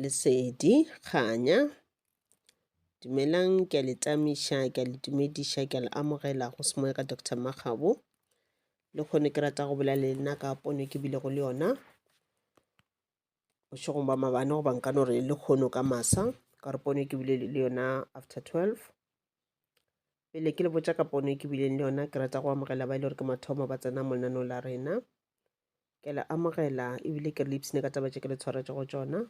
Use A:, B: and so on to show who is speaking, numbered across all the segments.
A: Lesedi, kganya. Dumelang, ke a le tamiša, ke a le dumediša, ke a le amogela go se moya ka Doctor Makgabo. Le kgone ke rata go bolela le nna ka pono e ke bilego le yona bošegong ba mabane goba nka no re le kgono ka masa ka re pono e ke bile le yona after 12 pele ke le botša ka pono e ke bileng le yona ke rata go amogela ba e le gore ke mathomo ba tsena mo lenaneo la rena ke le amogela ebile ke le ipsene ka taba tše ke le tshwaretše go tšona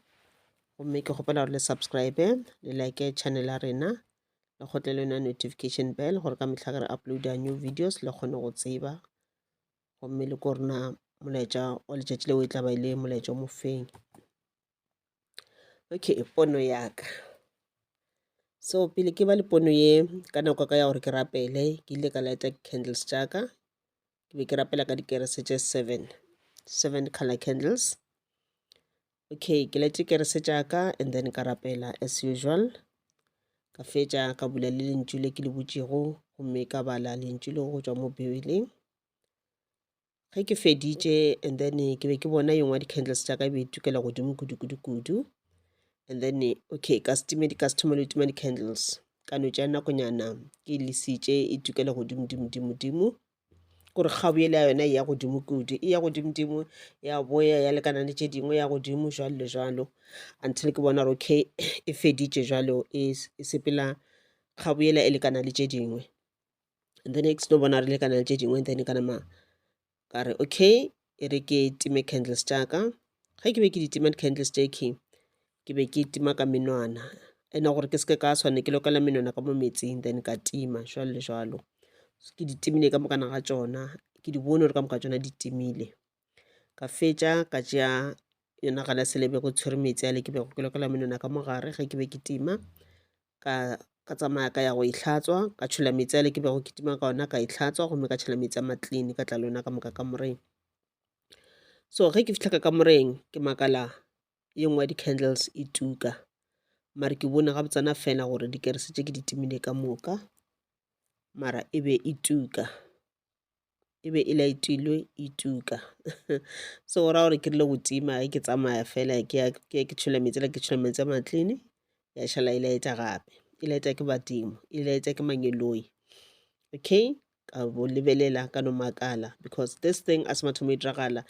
A: gomme ke kgopela gore le subscribe le like channel ya rena le kgotle le yona notification bell gore ka mehla ge re uploada new videos le kgone go tseba gomme le ko rena molaetša wa letšatši leo e tla ba e le molaetša o mofeng okay pono ya ka so pele ke ba le pono ye ka nako ka ya gore ke rapele ke ile ka lighta candles tša ka ke be ke rapela ka dikerese tše seven seven color candles okay ke lete kerese tša ka and then ka rapela as usual ka fetša ka bula le lentšu le ke le butšego gomme ka bala lentšu le go tšwa mo bibeleng ge ke feditše and then ke be ke bona yengwe ya di-candles tša ka e be e tukela godimo kudu-kudu-kudu and then okay ka stime di-customer le tima di-candles ka no tša nakonyana ke e lesitše e tukela godimodimodimodimo gore kgabo ele ya yona e ya godimo kudu e ya godimodimo ya boya ya lekana le tše dingwe ya godimo jalo le jalo until ke bona gore okay e feditše jalo e s- e sepela kgabo ela e lekana le tše dingwe and then e ke seno bona re lekana le tše dingwe and then ka nama ka re okay e re ke time candles tša ka ge ke be ke di tima di-candles tše ke ke be ke tima ka menwana ene gore ke seke ka swane ke lokela menwana ka mo metsing then ka tima jalo le jalo ke di timile ka mokana ga tšona ke di bone gore ka moka tšona di timile ka fetša ka tšea yona gala selebe go tshwere metsi a le ke bego ke lokela menwana ka mogare ge ke be ke tima ka ka tsamaya ka ya go itlhatswa ka tšhola metsi ale ke bego ke tima ka ona ka itlhatswa gomme ka tšhela metsi a maclean ka tla le ona ka moka ka moreng so ge ke fitlha ka ka moreng ke makala ye nngwe ya di-candles e tuka mare ke bone ga botsana fela gore dikerese tše ke di timile ka moka mara e be e tuka e be e laetilwe e tuka so go raya gore ke rile go tima ge ke tsamaya fela ke ya ke ya ke tšhola metsi la ke tšhola metsi a matlini ya šala e laeta gape e laeta ke badimo e laeta ke mangeloi okay ka bo lebelela ka no makala because this thing a se mathomo e diragala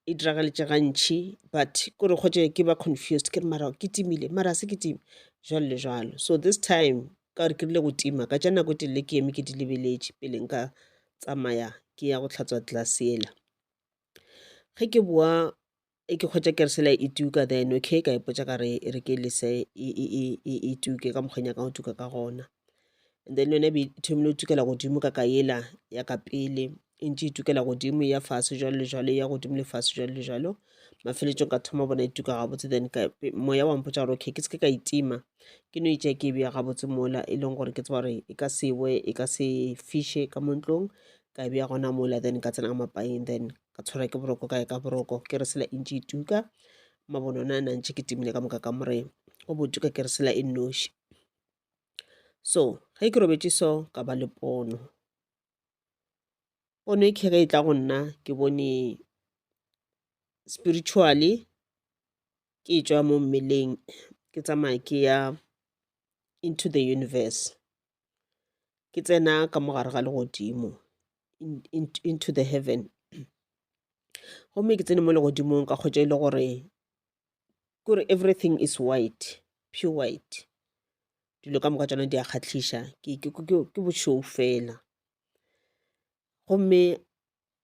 A: e diragaletše gantši but kore kgotše ke ba confused ke re mara ke timile mara a se ke time jwalo le jwalo so this time Ka gore ke rile go tima ka tša nako e telele ke eme ke di lebeletše pele nka tsamaya ke ya go tlhatswa tlase yela. Ge ke boa e ke kgwetša keresela e tuka then okay ka ipotša ka re e re ke lese e, e, e, e, e tuke ka mokgweng nyakang go tuka ka gona and then yone e be e thomile go tukela godimo ka ka yela ya ka pele E ntše e tukela godimo, e ya fase, jalo le jalo, e ya godimo le fase, jalo le jalo. Mafeletšong ka thoma bona e tuka gabotse, then ka pe- moya wa mpotša gore okay ke se ke ka e tima, ke no e tšea ke e beya gabotse mola, e leng gore ke tseba gore e ka se we, e ka se fiše ka mo ntlong, ka e beya gona mola, then ka tsena ka mapaing, then ka tshwarwa ke boroko, ka ya ka boroko, ke re sela e ntše e tuka, mabone ona a ne a ntše ke timile ka moka ka moreng, o bo tuka ke re sela e nnoši. So ge ke robetše so, ka ba le pono. pono e khe ge e tla go nna ke bone spiritually ke tšwa mo mmeleng ke tsamaya ke ya into the universe ke tsena ka mo gare ga legodimo into the heaven gomme ke tsene mo legodimong ka kgotsa e le gore kore everything is white pure white dilo ka moka tsona di a kgatlhiša ke bošou fela gomme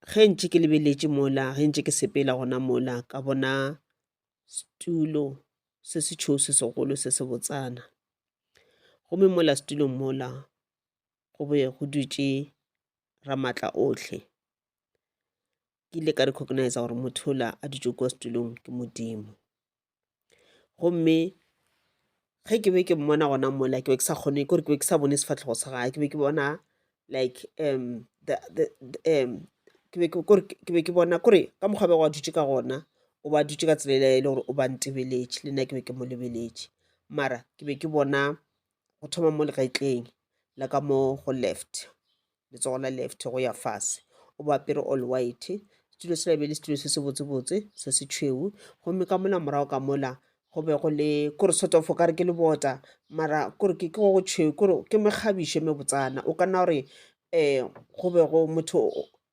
A: ge ntše ke lebeletše mola ge ntše ke sepela gona mola ka bona setulo se se tšhou se segolo se se botsana gomme mola setulong mola go be go dutše ramatla otlhe ke ile ka recognize gore motho ola a dutše kwa setulong ke modimo gomme ge ke be ke mmona gona mola ke be ke sa kgone kore ke be ke sa bone sefatlhego sa gae ke be ke bona like um the, the, the, um ke be ke- kore ke be ke bona kore ka mokgwa bego a dutše ka gona o ba dutše ka tsela ele e le gore o ba ntebeletše le nna ke be ke mo lebeletše mara ke be ke bona go thoma mo legetleng la ka mo go left letsogo la left go ya fase o bo apere all white setulo sela e be e le setulo se se botsebotse se se tšhweu gomme ka mola morago ka mola go be go le kore sort of o kare ke lebota mara kore ke go go tšhweu kore ke mekgabišo e mebotsana o ka nna gore um go be go motho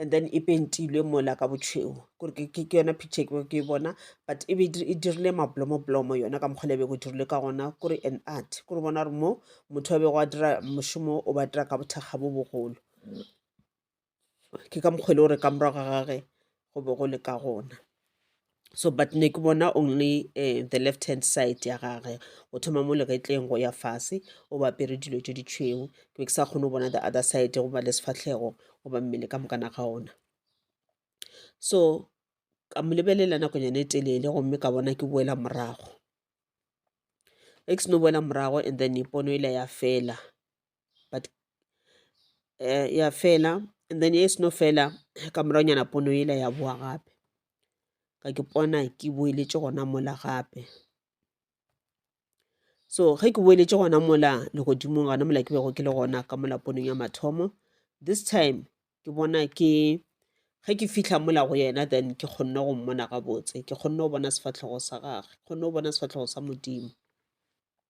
A: and then e pentilwe mola ka botšhweu kore ke ke- ke yona picture ke bego ke e bona but e be e dir- e dirile mablomoblomo yona ka mokgwa le bego e dirilwe ka gona kore an art kore bona gore mo motho a bego a dira mošomo o ba dira ka bothakga bo bogolo ke ka mokgwa e le gore ka morago ga gage go be go le ka gona so but ne ke bona only uh, the left hand side ya gage o thoma mo legetleng go ya fase o ba apere dilo tse ditšhweu ke be ke sa kgone go bona the other side goba le sefatlhego goba mmele ka mokana ga ona so ka mo lebelela nakonyana e telele gomme ka bona ke boela morago e ke seno boela morago and then ipono e la ya fela but uh, ya fela and then e seno fela ka moranyana pono ela ya boa gape ka ke pona ke boeletše gona mola gape so ge ke boeletše gona mola legodimong gona mola ke bego ke le gona ka mola ponong ya mathomo this time ke bona ke ge ke fitlha mola go yena then ke kgonne go mmona gabotse ke kgonne go bona sefatlhogo sa gage kgonne go bona sefatlhogo sa modimo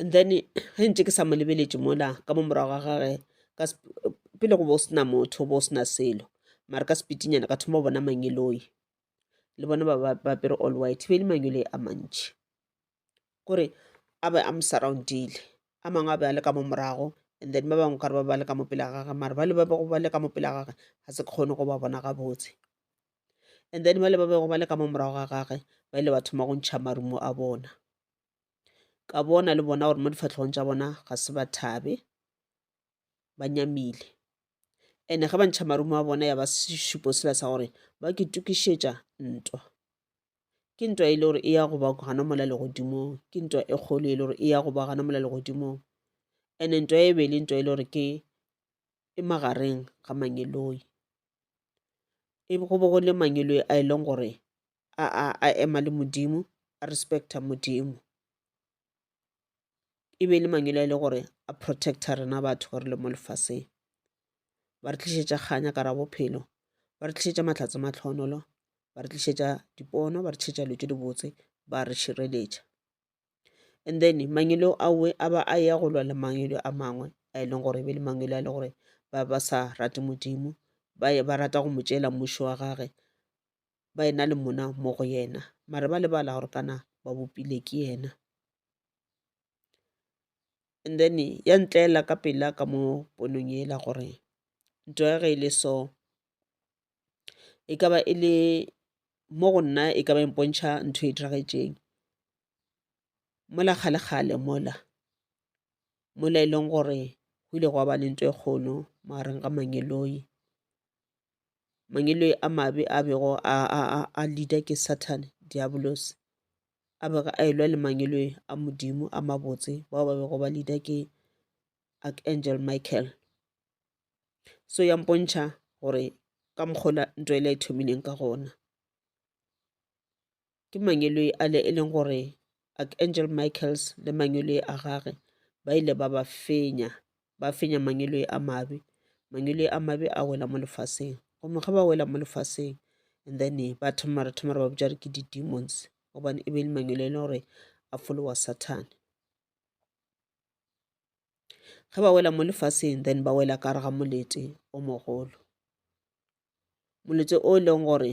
A: and then ge ntse ke sa mo lebeletše mola ka mo morago ga gage pele go bo sena motho bo sena selo mara ka sepitinyana ka thoma go bona mangeloi le bona ba bapere all white be le mangeloi a mantši kore a be a mo surroundile a mangwe a be a le ka mo morago and then ba bangwe kare ba ba le ka mo pela gage mara ba le ba bego ba le ka mo pela gage ga se kgone go ba bona gabotse and then ba le ba bego ba le ka mo morago ga gage ba ile ba thoma go ntšha marumo a bona ka bona le bona gore mo difahlogong tša bona ga se ba thabe ba nyamile ene ge ba ntšha marumo a bona ya ba sešupo sela sa gore ba ke tukišetša ntwa ke ntwa e le gore e ya go ba gana mola legodimong ke ntwa e kgolo e le gore e ya go ba gana mola legodimong ene ntwa e be le ntwa e le gore ke e magareng ga mangeloi e go bo go le mangeloi a e leng gore a a a ema le modimo a respecta modimo e be e le mangwele a e le gore a protecta rena batho gore le mo lefaseng ba re tlišetša kganya ka ra bophelo ba re tlišetša mahlatse matlhonolo ba re tlišetša dipono ba re tlišetša dilo tše dibotse ba re šireletša and then mangwelo awe a ba a ya go lwa le mangwelo a mangwe a e leng gore e be le mangwelo a e le gore ba ba sa rate modimo ba rata go mo tšeela mmušo wa gage ba e na le mona mo go yena mare ba lebala gore kana ba bopile ke yena and then ya ntlela ka pela ka mo ponong ela gore nto ya ge e le so e ka ba e le mo go nna e ka ba empontšha ntho e diragetseng mola kgalekgale mola mola e leng gore go ile gwa ba le nto e kgolo magareng ga mangeloi mangwele a mabe a bego a, a, a, a leader ke satan diabolos a bego a elwa le mangwele a modimo a mabotse bao ba bego ba leader ke archangel michael so ya mpontšha gore ka mokgola ntwa e le e thomileng ka gona Ke mangweloi ale e leng gore Archangel Michaels le mangweloi a gage ba ile ba ba fenya, ba fenya mangweloi a mabe. Mangweloi a mabe a wela mo lefaseng. Gomme ge ba wela mo lefaseng, and then ba thoma re thoma re ba bitša re ke di-demons gobane e be e le mangweloi e leng gore a folowa Sathane. Ge ba wela mo lefaseng then ba wela ka gare ga molete o mogolo. Molete o e leng gore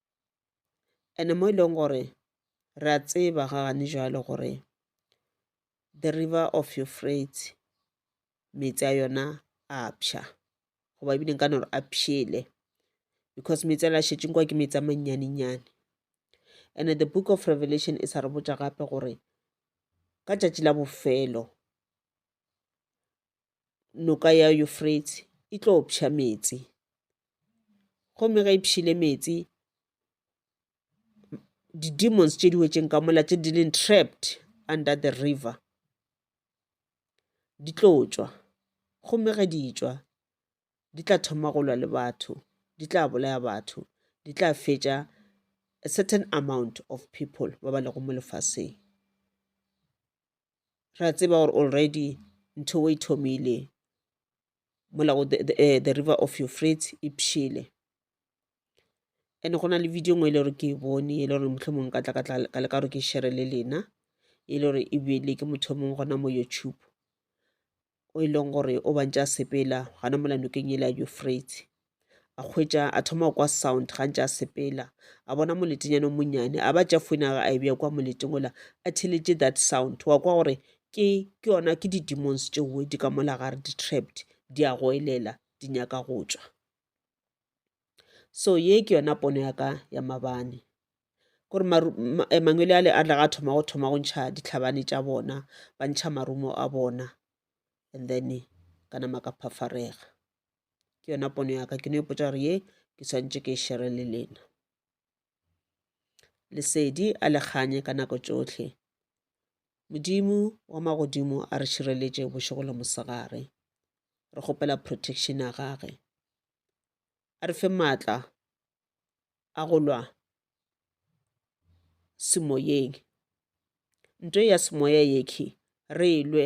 A: ene mo e leng gore re a tseba ga gane jwalo gore the river of Euphrates meetse a yona a pšha goba ebile nka no re a pšhele because meetse a la šetšeng kwa ke meetse a mannyanenyane and the book of revelation e sa re botša gape gore ka tšatši la bofelo noka ya Yufreitsi e tlo pša meetse. Gomme ge e pšile meetse, di-demons tše di wetšeng ka mola tše di leng trapped under the river di tlo tšwa. Gomme ge di tšwa, di tla thoma go lwa le batho, di tla bolaya batho, di tla fetša a certain amount of people ba ba lego mo lefaseng. ra tseba gore already ntho e thomile mola go eh, the river of your frit e pšhele and go na le video ngwe e le gore ke e bone e le gore motlho mongwe ka tla ka tla ka leka gore ke shere le lena e le gore e bele ke motho mongwe gona mo youtube o e leng gore o bantše a sepela gana mola nokeng yela ya eufrate a kgwetša a thoma go kwa sound ga ntše a sepela a bona moletenyane o monnyane a ba tša foina ga a e bja kwa moleteng ola a theletše that sound wa kwa gore ke ke yona ke di-demons tšeo di ka mola gare di-trapped di a go elela di nyaka go tšwa so ye ke yona pono ya ka ya mabane gore eh, mangwele ale a tlaga a thoma go thoma go ntšha ditlhabane tša bona ba ntšha marumo a bona and then ka nama ka phafarega ke yona pono ya ka ke no ipotsa gore ye ke swantše ke e shere le lena Lesedi a le kganye ka nako tšohle. Modimo wa magodimo a re šireletše bošego le mosegare. Re kgopela protection ya gage. A re fe maatla a go lwa semoyeng. Nto ya semoya yekhi re e lwe